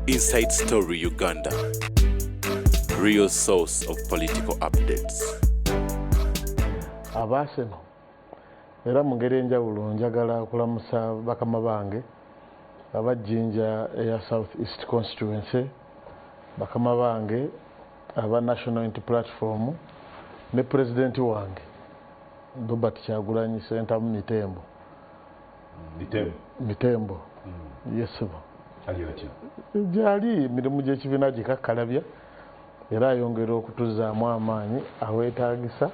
Inside Story Uganda, real source of political updates. Abaaseno era mu ngeri enjawulo njagala okulamusa bakama bange aba Jinja eya South East Constituency, bakama bange aba National Unity Platform ne pulezidenti wange Robert Kyagulanyi Ssentamu Mitembo. mitembo hmm. yesebo gyali emirimu gyekibiina gikakkalabya era ayongera okutuzaamu amaanyi awetagisa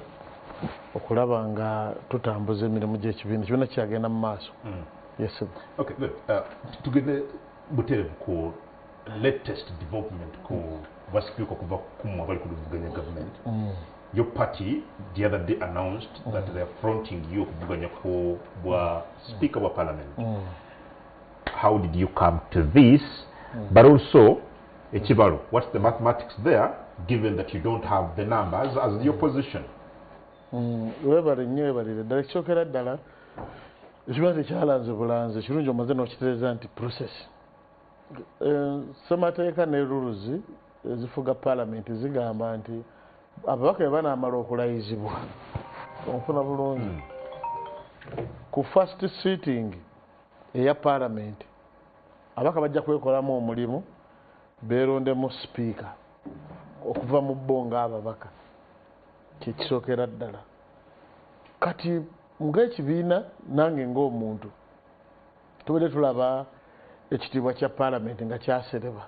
okulaba nga tutambuza emirimu gyekibiina kibiina kyagenda mu maaso hmm. yesebo uh, tugende buterevu ku latest development ku bwa sipiika okuva kumwe abali kuluvuganya government mm. your party the other day announced mm. that they are fronting you okuvuganya ku bwa sipiika mm. bwa parliament mm. how did you come to this mm. but also ekibalo mm. what's the mathematics there given that you don't have the numbers as the mm. opposition mm. webale nnyo webalire ddala ekikyokera ddala ekiba tekyalanze bulanze ekirungi omaze n'okitereeza nti process ssemateeka ne ruluzi ezifuga palamenti zigamba nti ababaka be banaamala okulayizibwa onfuna bulungi hmm. ku first sitting eya palamenti ababaka bajja kwekolamu omulimu beerondemu sipiika okuva mu bo ngaababaka kyekisookera ddala kati ngaekibiina nange ngaomuntu tubadde tulaba ekitiibwa kya paalamenti nga kyasereba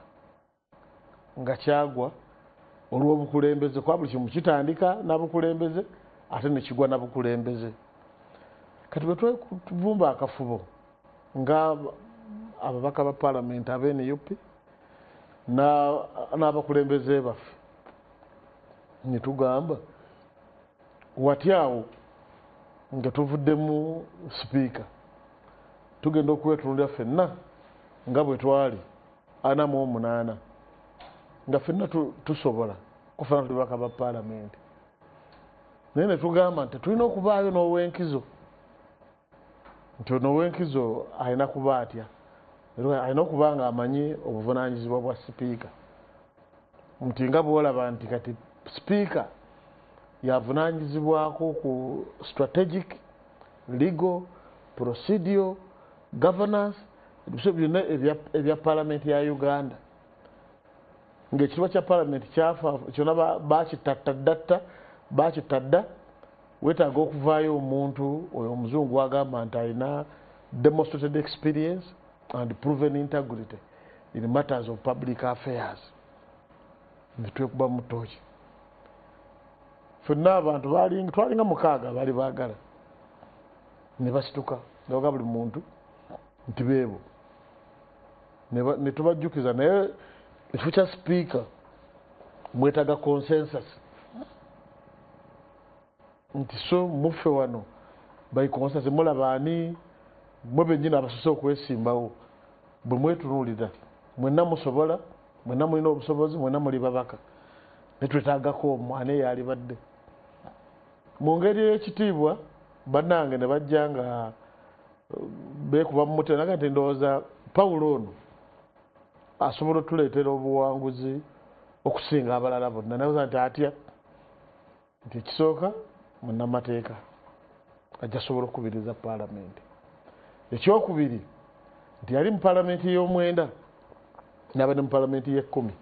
nga kyagwa olw'obukulembeze kuba buli kimu kitandika nabukulembeze ate nekigwa nabukulembeze kati bwe twevumba akafubo nga ababaka ba paalamenti abnup n'abakulembeze baffe netugamba Watya awo nga tuvuddemu sipiika tugenda okwetunulira fenna nga bwe twali ana mu omunaana nga fenna tusobola kufana tuli baka ba paalamenti naye ne tugamba nti tulina okubaayo n'owenkizo nti ono owenkizo alina kuba atya alina okuba nga amanyi obuvunanyizibwa bwa sipiika nti nga bwolaba nti kati sipiika yavunanyizibwako ku strategic legal procedural governance ebiso byonna ebya palamenti ya uganda ngaekitiba kya palamenti kyafa kyona bakitattadatta bakitadda wetaaga okuvaayo omuntu oyo omuzungu wagamba nti alina demonstrated experience and proven integrity in matters of public affairs netwekuba mutooki fenna abantu twalinga mukaaga bali bagala nebasituka nebaga buli muntu nti beebo netubajjukiza naye ekifo kya sipiika mwetaga consensus nti so muffe wano bayikonsa temulaba ani mwe bennyini abasose okwesimbawo bwe mwetunuulira mwenna musobola mwenna mulina obusobozi mwenna muli babaka ne twetaagako omu ani eyalibadde mu ngeri ey'ekitiibwa bannange ne bajja nga uh, beekuba mu mutwe naga nti ndowooza pawulo ono asobola otuleetera obuwanguzi okusinga abalala bonna nabuza nti atya nti ekisooka munnamateeka ajja sobola okukubiriza paalamenti ekyokubiri nti yali mu paalamenti y'omwenda naba ne mu paalamenti y'ekkumi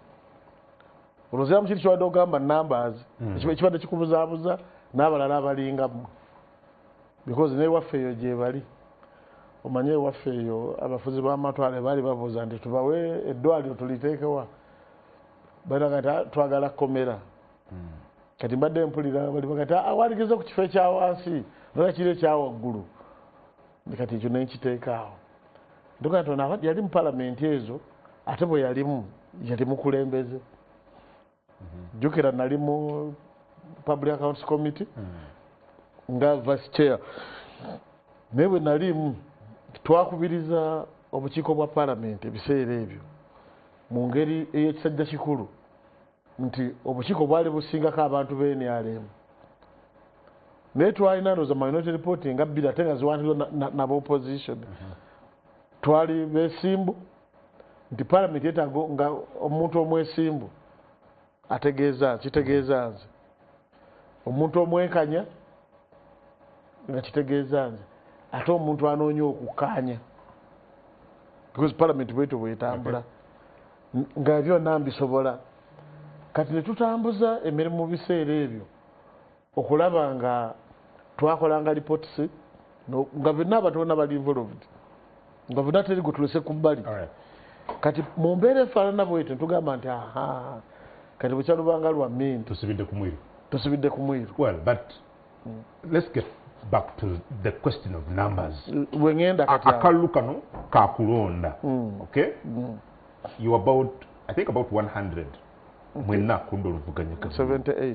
olwoziramu kiri kibadde ogamba numbers hmm. ekibadde kikubuzaabuza n'abalala abalingamu because naye waffe eyo gyebali omanye ewaffe eyo abafuzi b'amatwale baali babuuza nti tubawe eddwaliro tuliteekewa balina kati ah, twagala kkomera hmm. kati mbadde mpulira bali kati ah, awaligiza ku kifo ekya wansi nola kiri ekya waggulu kati ekyo ne nkiteekaawo ntuga nti yali mu palamenti ezo ate bwe yalimu yali mukulembeze jjukira nali mu public accounts committee hmm. nga vice chair naye bwe nalimu twakubiriza obukiiko bwa palamenti ebiseera ebyo mu ngeri ey'ekisajja kikulu nti obukiiko bwali busingako abantu b'enrm naye twalina noza minority reporting nga bbiri ate nga ziwanirwa naba opposition hmm. twali besimbu nti palamenti yetaaga nga omuntu omwesimbu ategeeza kitegeeza nze omuntu omwenkanya nga kitegeeza nze ate omuntu anoonya okukkaanya because palamenti bwetyo bwetambula nga byonna mbisobola kati ne tutambuza emirimu mu biseera ebyo okulaba nga twakolanga reports nga byonna abantu bona bali involved nga byonna teri gutulese ku bbali kati mu mbeera efaanana bwetyo ntugamba nti aha kati bukyalubanga lwa min tusibidde ku mwiru tusibidde ku mwiru well but mm. let's get back to the question of numbers mm, wengenda kati akalulu kano kakulonda mm. okay mm. you about i think about 100 mwenna kunda oluvuganya 78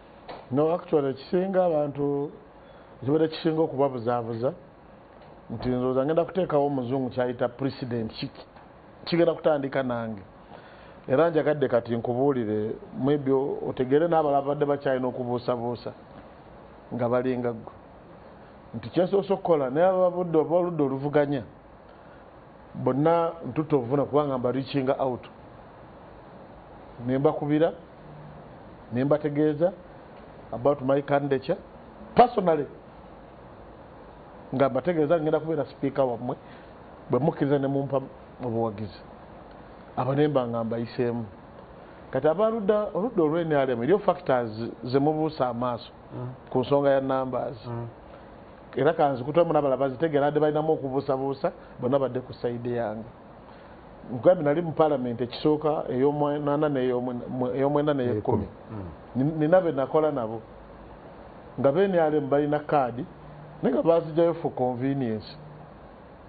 no actually ekisinga abantu ekibadde kisinga okubabuzaabuza nti nzooza ngenda kuteekawo omuzungu kyayita president kigenda kutandika nange era njagadde kati nkubuulire mwebyo otegeere n'abala abadde bakyalina okubuusabuusa nga balinga ggwe nti kyensoose okukola naye ababudde oba oludde oluvuganya bonna ntutta obuvuna kubanga mba reachinga out ne mbakubira ne mbategeeza about my candidature personally nga mbategeeza ngenda kubeera sipiika wammwe bwe mukkiriza ne mumpa obuwagizi abo ne mba nga mbayiseemu kati abaludda oludda olw'enrm eriyo factors ze mubuusa amaaso mm. ku nsonga ya numbers mm. era kanzikutemu nabala bazitegera ade balinamu okubuusabuusa bona badde ku saide yange nkugambye nali mu palamenti ekisooka eyomwanana eyomwenda neyekumi mm. nina benakola nabo nga benrm balina kaadi naye nga bazijayo for convenience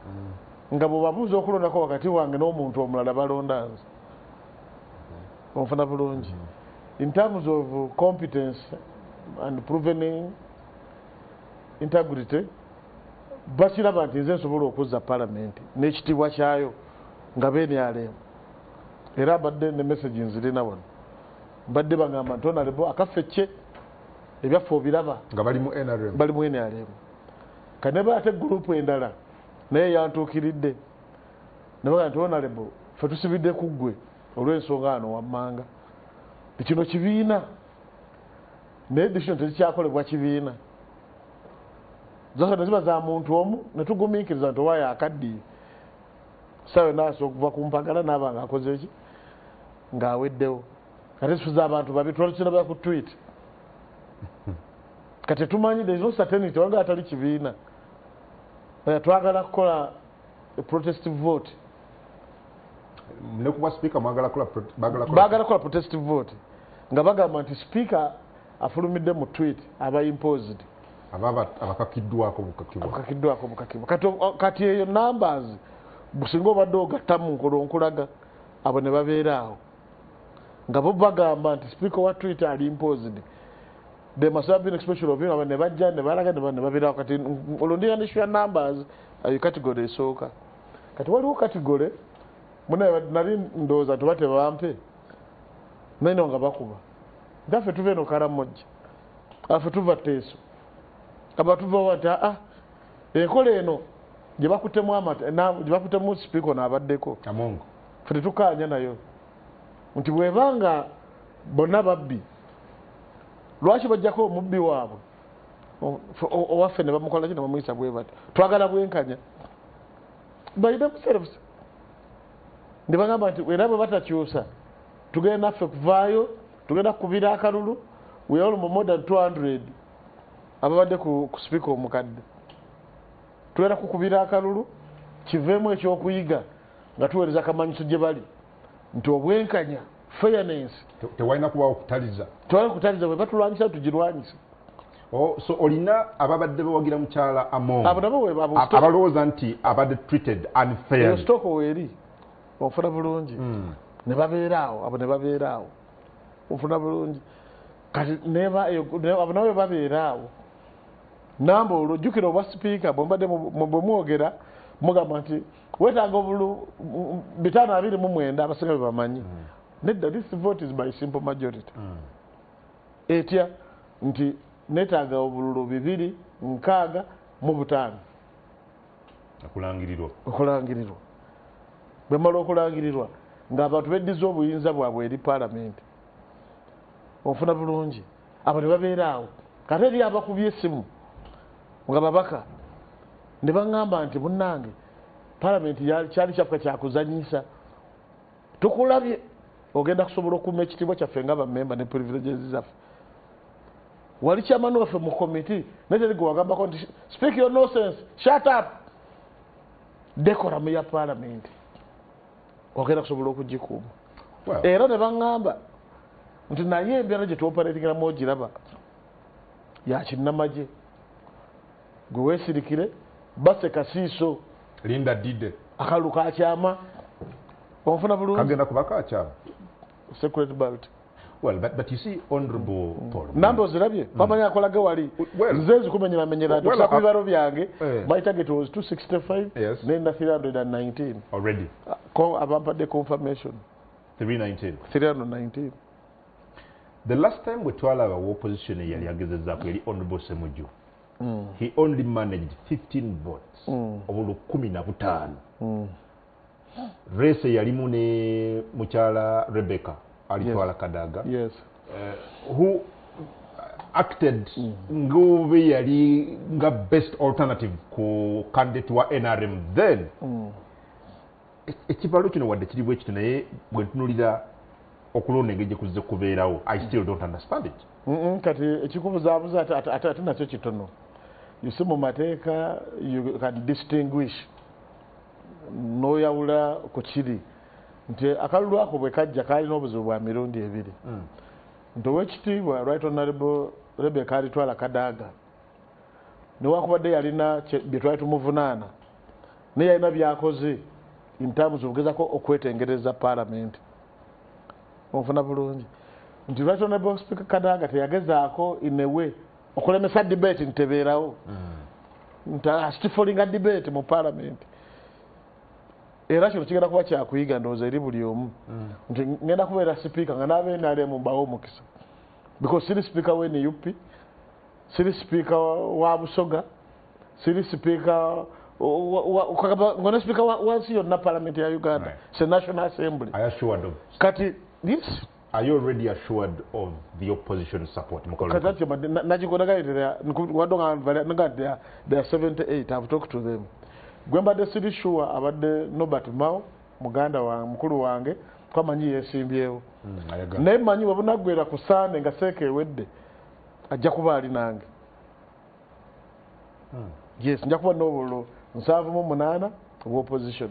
mm. nga bwebabuuza okulondako wakati wange n'omuntu omulala balonda nze mm. onfuna bulungi in terms of competence and provening integrity bakiraba nti nze nsobola okuzza palamenti n'ekitiibwa kyayo nga benrm era abadde ne message nzirina wano mbadde bagamba nti onalebo akaffe kye ebyaffe obiraba nga bali mu nrm bali mu nrm kaneba ate gurupu endala naye yantuukiridde nabaga nti onalebo fe tusibidde ku ggwe olw'ensonga ano wammanga ekino kibiina naye decision tezikyakolebwa kibiina zose neziba za muntu omu netugumiikiriza nti oba yakaddiye sawe naasa okuva ku mpagala naaba nga akozeki ng'aweddewo kati zifuza abantu babi twalukinabeera ku twit kati tumanyi there's no certainty wanga atali kibiina eh, twagala kukola protest vote nekubwa speaker mwagala kula bagala kula bagala kula protest vote nga bagamba nti speaker afulumidde mu tweet aba imposed ababa abakakiddwako bukakibwa bukakidwako bukakibwa kati kati eyo numbers businga obadde ogatta mu nkolo nkulaga abo ne babeera awo nga bo bagamba nti speaker wa tweet ali imposed they must have been special of him ne bajja ne balaga ne babeera kati olundira ne sure numbers ayo katigole esooka kati waliwo katigole nali ndowooza tuba tebampe naino nga bakuba ntafe tuva eno karamojja afe tuva teeso abatuvawa nti aa enkola eno gyebakutemu amata gyebakutemu sipiiko naabaddeko fe tetukaanya nayo nti bwebanga bonna babbi lwaki bajjako omubbi waabwe owaffe ne bamukolaki ne bamuyisa bwe bati twagala bwenkanya by themselves ne bagamba nti era bwe batakyusa tugenda naffe kuvaayo tugenda kukubira akalulu we all more than 200 ababadde ku sipiika omukadde tugenda kukubira akalulu kiveemu ekyokuyiga nga tuweereza kamanyiso gye bali nti obwenkanya fairness tewalina kubawo kutaliza tewalina kutaliza bwe batulwanyisa tugirwanyisa Oh, so olina ababadde bawagira mukyala amoabalowooza nti abadde treated unfairstoko weeri ofuna bulungi hmm. ne babeeraawo abo ne babeeraawo ofuna bulungi kati abo nawe babeeraawo namba olwo jjukira obwa sipiika bwembadde bwemwogera mugamba nti wetaaga obulu bitaano abiri mu mwenda abasinga bye bamanyi mm. nedda this vote is by simple majority mm. etya nti netaaga obululu bibiri nkaaga mu butaano okulangirirwa okulangirirwa bwemala okulangirirwa ng'abantu beddiza obuyinza bwabwe eri palamenti ofuna bulungi abo ne babeera awo kate eri abakubye esimu nga babaka ne baŋŋamba nti munnange palamenti kyali kyaffe kyakuzanyisa tukulabye ogenda kusobola okuuma ekitiibwa kyaffe nga bamemba ne privileges zaffe wali kyamani waffe mu komiti naye teri gwe wagambako nti speak your nosense shut up dekoramu ya palamenti ogenda kusobola okugikuuma era ne baŋŋamba nti naye embeera gye tuoperatingiramu ogiraba yakinnamagye gwe weesirikire base kasiiso linda dide akalulu kakyama onfuna bulungi kagenda kuba kakyama secret balti Well, but, but you see, honorable mm. Paul. Nambo zirabye, mm. pamanya akola ge wali. Well, nzezi kumenyera menyera well, tusa kuiba robi yange. Eh. My target was 265. Yes. Nenda 319. Already. Uh, ko abampa de confirmation. 319. 319. The last time we twala our opposition yali ageze zako yali honorable Semuju. Mm. He only managed 15 votes. Mm. Obulu kumi na butano. Mm. rese yalimu ne mukyala rebecca alitwala kadaga yes. uh, who acted mm. ngobe yali nga best alternative ku candidate wa nrm then mm. e-, ekibalo kino wadde kiri bwe kiti naye bwe ntunulira okulonda engeri gyekuzze kubeerawo i mm. still don't understand it kati ekikubuzabuza ate nakyo kitono yusi mu mateeka you can distinguish n'oyawula ku kiri nti akalulu ako bwe kajja kaalina obuzibu bwa mirundi ebiri hmm. nti owekitiibwa right honorable rebeka alitwala kadaaga newakubadde yalina bye twali tumuvunaana naye yalina byakoze intamuzi okugezako okwetengereza paalamenti onfuna bulungi nti right honorable speaker kadaaga teyagezaako inewe okulemesa debate nti tebeerawo hmm. nti asitifolinga debate mu palamenti era kino kigenda kuba kyakuyiga ndowooza eri buli omu hmm. nti ngenda kubeera sipiika nga n'abenalemu mbawo omukisa because siri sipiika wa nup siri sipiika wa busoga siri sipiika ngone sipiika wansi yonna palamenti ya uganda se national assembly kati yes Are you already assured of the opposition support? Kazati, but Najikona guy, they are, Wadonga, they are, they are 78. I've talked to them. Gwemba de Sidi Shua, about the Nobert Mao, Muganda wa Mkulu wange, kwa manyi yesimbyewo. Hmm, Naye manyi wabuna gwera kusane nga seke wedde. Ajja kuba ali nange. Hmm. Yes, njakuba nobolo. Nsavu mu munana, opposition.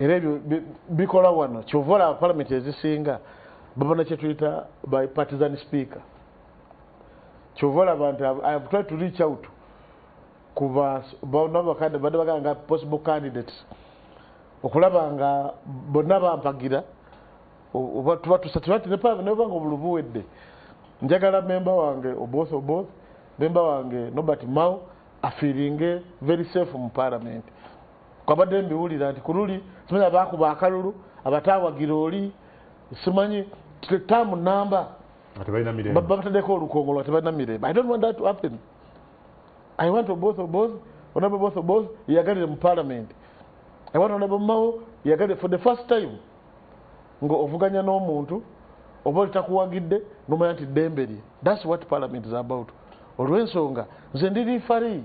era ebyo bikola wano kyova olaba palamenti ezisinga babona kyetuyita by partisan speaker kyova olaba nti ihave try to reach out kubabakade badde bagala nga possible candidates okulaba nga bonna bampagira obatubatusatebatinepaaneobanga obulubu wedde njagala memba wange oboth oboth memba wange nobert mao afiringe very safe mu palamenti Kwabadde mbiwulira nti kululi simanyi abaakuba akalulu abataawagira oli simanyi taamu namba babatadeko olukongo lwa tebalina mirembe i don't want that to happen i want oboth oboth onaba both oboth yeyagalire mu parliament i want onaba mawo yeyagalire for the first time nga ovuganya n'omuntu oba olitakuwagidde nomanya nti ddembe lye thats what parliament is about olw'ensonga nze ndi lifari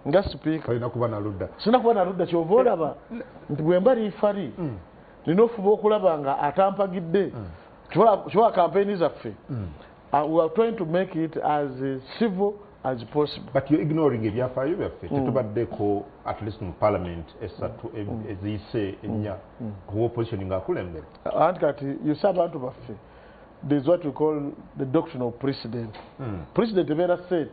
nga sipiika alina kuba naludda sina kuba naludda kyova olaba eh, nti bwemba liifali mm. nina ofuba okulaba nga atampagidde mm. kiwa kampeyini zaffe mm. uh, we are trying to make it as civil as possible but you're ignoring ebyafaayo byaffe mm. tetubaddeko at least mu parliament esatu e- mm. eziyise mm. ennya kuba opposition nga akulembera anti kati yuse abantu baffe there's what we call the doctrine of precedent precedent ebeera set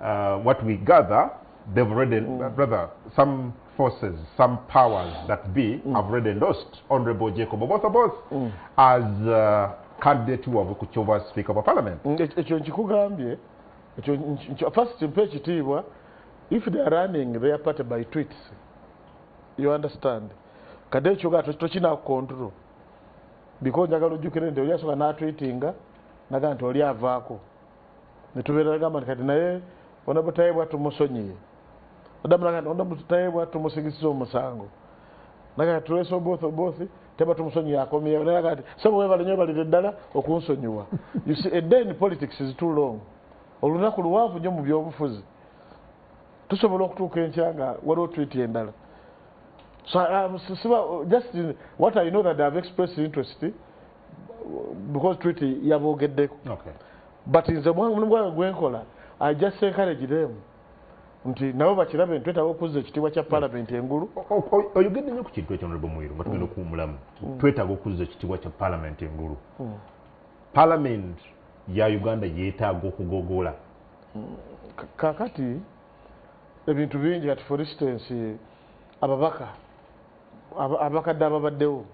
uh, what we gather they've already mm. brother some forces some powers that be mm. have already endorsed honorable jacob oboth both mm. as uh, candidate wabwe ku kyova speaker wa parliament mm, ekyo nkikugambye ekyo first mpa ekitiibwa if they are running their party by tweets you understand kade ekyoga tokina control because njagala ojjukire nti oli asoka natweetinga naga nti oli avaako netubeera gamba nti kati naye ona butayebwa tumusonyiye ona butayebwa tumusigisiza omusango naga tulese oboth oboth teba tumusonyiye akomeyewo naye agati sebo webale nyo balire ddala okunsonyiwa you see a day in politics is too long olunaku luwanvu nyo mu byobufuzi tusobola okutuuka enkya nga waliwo twiti endala so um, siba just in, what i know that ihave expressed interest because treaty yaboogeddeko okay. but nze omulimu gwange gwenkola i just encourage them nti nabo bakirabe ntwetaba okuzza ekitiibwa kya palamenti engulu oyogedde nyo ku kintu ekyo nolebo mwiru nga tugenda mm. okuwumulamu mm. twetaba okuzza ekitiibwa kya palamenti engulu mm. palamenti ya uganda yetaaga okugogola kakati ebintu bingi kati for instance ababaka abakadde ababaddewo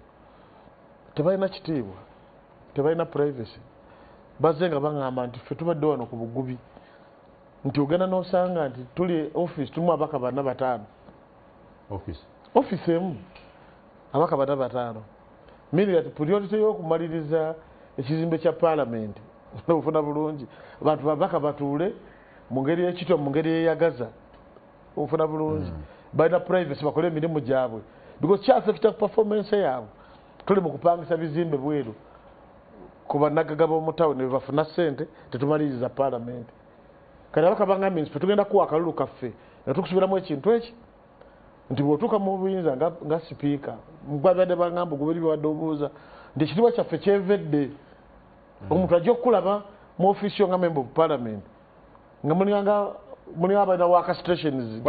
tebalina kitiibwa tebalina privacy bazze nga baŋamba nti ffe tubadde wano ku bugubi nti ogenda nosanga nti tuli office tumu abaka bana bataano office emu abaka bana bataano miri ati priority yokumaliriza ekizimbe kya palamenti nobufuna bulungi abantu babaka batuule mu ngeri ekitwa mu ngeri eyagaza ofuna bulungi mm. balina privacy bakole emirimu gyabwe because kyafekita ku performance yaabwe tuli mu kupangisa bizimbe bweru ku banagaga b'omutawuni bebafuna ssente tetumaliriza paalamenti kati abaka bangambye nti fetugenda kuwa akalulu kaffe nga tukusubiramu ekintu eki nti bwotuuka mu buyinza nga sipiika mubabadde bangamba oguberi byewadde obuuza nti ekitiibwa kyaffe kyevedde mm. omuntu ajja okukulaba mu ofiisi yo nga memba of paalamenti nga mulinganga muli abalina waka stations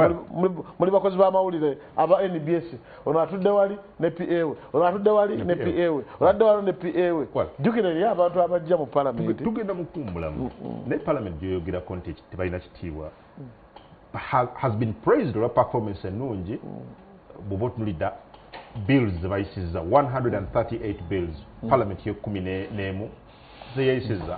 muli bakozi bamawulire aba nbs ono atudde wali ne pa we ono atudde wali ne pa we oladde wali ne pa we jukira eri abantu abajja mu palamenti tugenda mukumbulamu mm, mm. naye palamenti gyoyogerako nti tebalina kitiibwa has been praised olwa performance ennungi mm. bwoba otunulidda bills zebayisiza 138 bills palamenti yekumi nemu zeyayisiza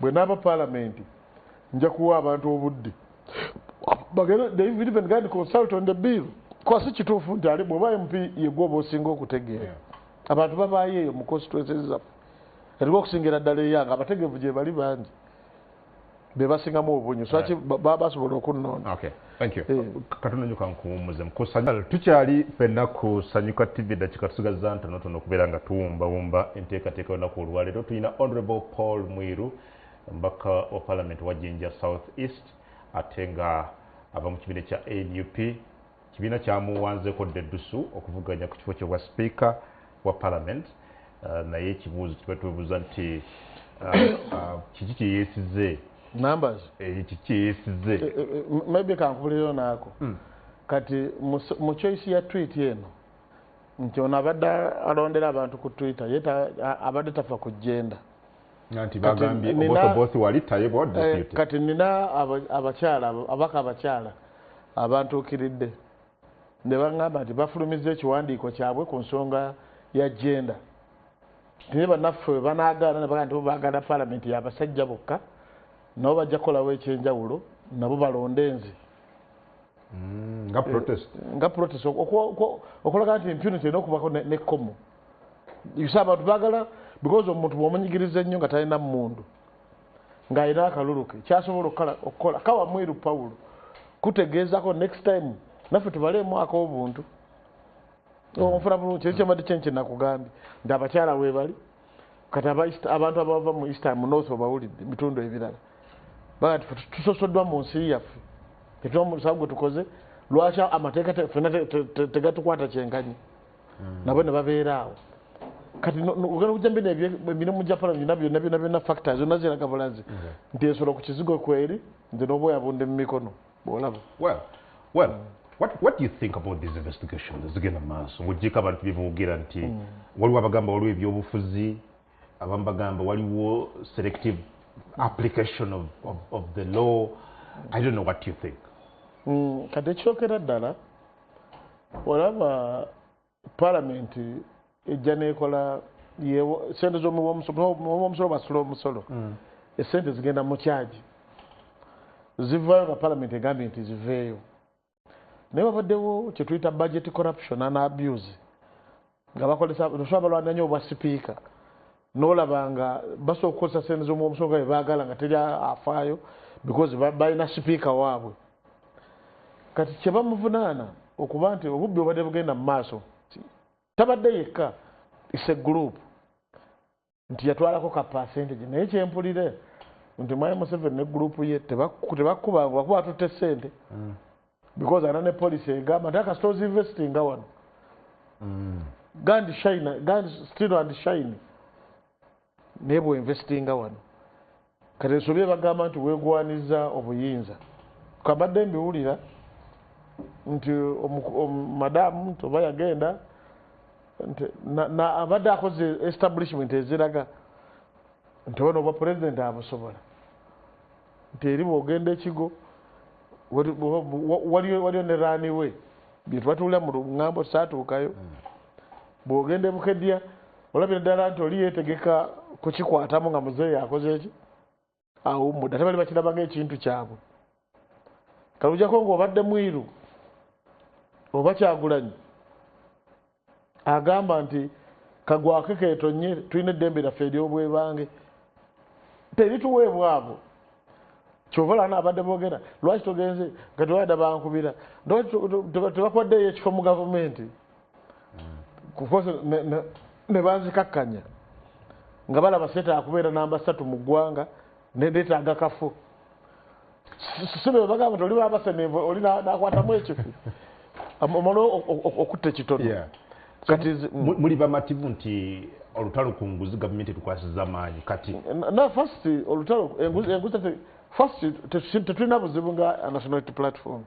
Bwe naava Palamenti, nja kuwa abantu obudde bagende they will even go and consult on the bill kuba si kituufu nti ali bw'oba MP ye gwe oba osinga okutegeera. Abantu babaayo eyo mu constituencies zaffe eriwo okusingira ddala eyange abategeevu gye bali bangi be basingamu obunyo so lwaki ba- ba- basobola okunnoona. Okay. Thank you. Eh. Katonda nyo kankuwummuze mukusanyal tukyali fenna ku Sanyuka TV dakika tusigazza ntono tono okubeera nga tuwumbawumba enteekateeka olunaku olwaleero tulina Honorable Paul Mwiru mbaka wa Parliament wa Jinja South East ate nga ava mu kibiina kya NUP kibiina kyamuwanzeko ddedusu okuvuganya ku kifo kyobwa sipiika wa parliament uh, naye ekibuuzo kiba twebuuza nti uh, uh, kiki kyeyesize numbers eh, kiki kyeyesize eh, eh, maybe kankubulireyo naako hmm. kati mu choice ya tweet eno nti ono abadde alondera abantu ku twitter ye abadde tafa ku jenda nti bagambye obotobosi wali taye bwa deputy kati nina abakyala abaka abakyala abantuukiridde ne baŋŋamba nti bafulumizza ekiwandiiko kyabwe ku nsonga ya jenda naye bannaffe banaagaana ne bagaa nti baagala palamenti yabasajja bokka nabo bajja kukolawo ekyenjawulo nabo balonde nze mm, nga protest okulaga nti impunity erina okubako nekkomo yusa abantu baagala because omuntu bwomunyigiriza ennyo nga talina mundu ng'alina akalulu ke kyasobola okukola kawa mweru pawulo kutegeezako next time naffe tubaleemu ak'obuntu onfuna bulungi kyezo kyabadde kyenki nakugambye nti abakyala webali kati abantu abava mu east mu north obawulidde bitundu ebirala baga ti tusosoddwa mu nsi yaffe etuwa musawo gwe tukoze lwaki amateeka fena tegatukwata kyenkanyi hmm. nabo ne babeera awo kati ogenda kujja mbino emirimu gya pala byona byona byona byona factor zonna ziraga bulazi hmm. nti ensolo ku kizigo kweri nze n'obwoya bunde mu mikono bwolaba well well mm. What, what do you think about these investigations ezigenda maaso ng'ogyeko abantu bye boogera nti mm. waliwo abagamba waliwo ebyobufuzi abamu bagamba waliwo selective application of, of, of the law i don't know what you think mm, kati ekyokera ddala olaba palamenti ejja nekola sente zomuwomusolo basula omusolo hmm. esente zigenda mukyaji zivayo nga palamenti egambye nti ziveeyo naye wabaddewo kyetuyita budget corruption an abuse nga bakozesa osobola balwana nyo obwa sipiika nolaba nga basobola okukozesa sente zomuomusolo nga bebagala nga teri afaayo because balina sipiika waabwe kati kyebamuvunaana okuba nti obubbi obadde bugenda mu maaso tabadde yekka is a group nti yatwalako ka percentage naye kyempulire nti mwami museveni ne group ye tebakkuba ngu bakuba atutte sente mm. because ana ne policy egamba nti akasita ozinvestinga wano mm. gandi shine gandi still and shine naye bweinvestinga wano Kati nsobye bagamba nti wegwaniza obuyinza kabadde mbiwulira nti madamu nti oba yagenda nti abadde akoze establishment eziraga nti ono obwa president abusobola nti eri bwogenda ekigo waliyo ne rani we byetwatulira mu lugambo saatuukayo hmm. bwogenda ebukedya olabira ddala nti oli yeetegeka kukikwatamu nga muzeeyi akoze eki awummudde ate bali bakiraba ngaekintu kyabwe kalujako ngaobadde mwiru oba kyagulanyi agamba nti kagwake ketonye tulina eddembe lyaffe eryobwebange terituweebwa abo kyovalana abadde bogera lwaki togenze nga tewada bankubira tebakuwaddeeyo ekifo mu gavumenti kukosa ne banzikakkanya nga balaba seeta akubeera namba satu mu ggwanga nendeetaaga kafu sibebagamba nti oli babasenevu oli nakwatamu ekifu omala okutta ekitono kati mm. muli bamativu nti olutalo ku nguzi gavumenti etukwasiza amaanyi kati na fast olutalo enguzi fast tetulina buzibu nga nationality platform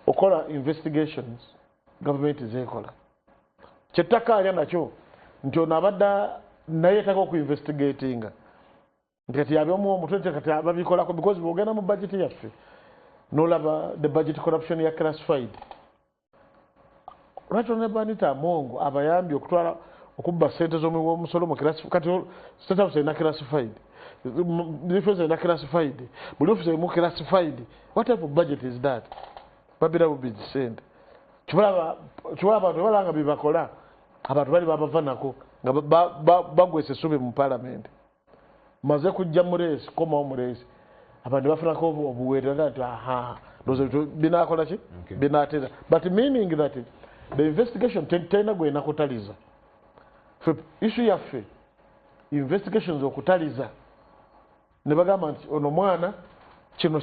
okola investigations gavumenti zekola kyettaka alya nakyo nti ono abadde naye taka okuinvestigatinga ntikati yabyomu omutwe nti kati babikolako because bwogenda mu bajeti yaffe nolaba the budget corruption ya classified lwaki onebanita amongo abayambye okutwala okubba sente zomuwi womusolo kati state house erina classified defense erina classified buli office erimu classified what type of budget is that babira bubizi sente kibalaba kiwa abantu balanga bibakola abantu bali babava nako nga bagwese sube mu parliament maze kujja mu race koma mu race abantu bafuna ko obuwerera nti aha dozo binakola ki binatera but meaning that the investigation tena gwe nakutaliza fe issue ya fe investigations okutaliza ne bagamba nti ono mwana kino